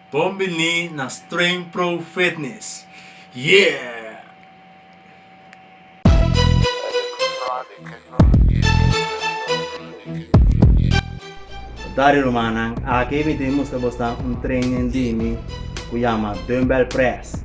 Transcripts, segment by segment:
Bon bini na Strain Pro Fitness! Dari rumannan, aki mi tin mustra bos nan un training di mi cu yama Dumbbell Press.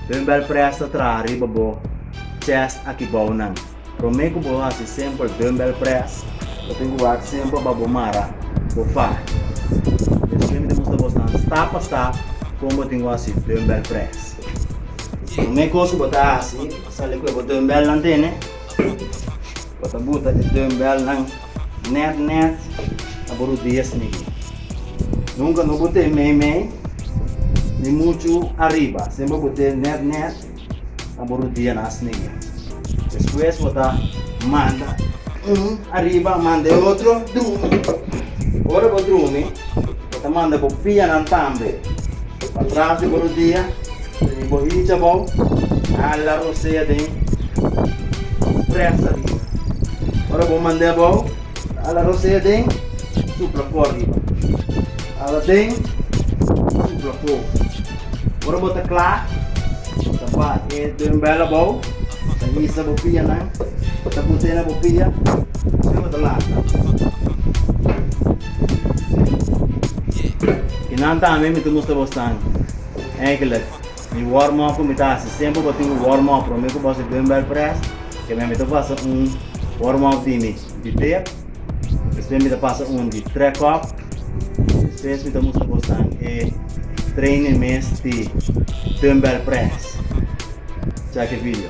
Dumbbell Press ta traha riba bo chest aki bounan. Prome ku bo hasi semper dumbbell press, bo tin ku wak semper pa bo mara bo fai. Mi siempre ta mustra bos nan stap pa stap kon bo tin ku hasi dumbbell press. Prome kos ku bo ta hasi, sali ku e bo dumbbell nan tene. Bo ta buta e dumbbell nan nèt nèt na bo rudias niño. Nunka no but'é meimei ni muchu ariba, semper but'é nèt nèt. na bo rudia na asneya. Despues bo ta manda un ariba a manda e otro drumi. Ora bo drumi, bo ta manda bo pianan tambe pa tras di bo rudia i bo hicha abou, hala rosea den presa riba. Ora bo mand'e abou, hala rosea den, supla for riba. Hala den, supla for. Ora bo ta kla, bo ta ba e den bèla bou, bo ta hisa bo pianan, bo ta put'é na bo pia, asina bo ta lanta. Kinan tambe mi ta mustra bo stan. Eigenlik, mi warm-up ku mi ta hasi semper bo tin ku warm-up promé ku boso den bèl près, kemia mi ta basa un warm-up di mi. di bek, despues mi ta pasa un di track up, despues mi ta mustra bos nan e training mes di dumbbell press. Check e video.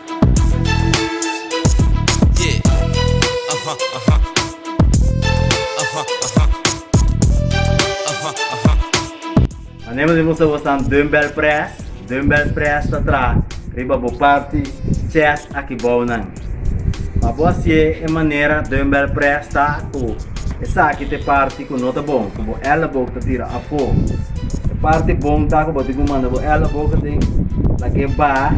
Manera di musta bo san dumbbell press, dumbbell press ta tra riba bo parti chest aki bou nan. Pa bo hacié e manera dumbbell press ta cu esaki ta e parti cu no ta bon, cu bo elleboog ta tira afo. E parti bon ta cu bo tin cu manda bo elleboog aden, lagu'é baha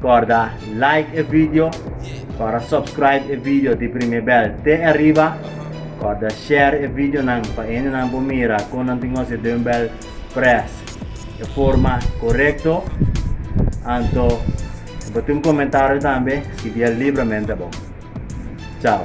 Corda like e video, corda subscribe e video di prime bel te ariba, corda share e videonan pa hendenan por mira con nan tin hosje Dumbbell Press e forma corecto. Anto si bo tin un comentario tambe scribiel libremente abo. Chao.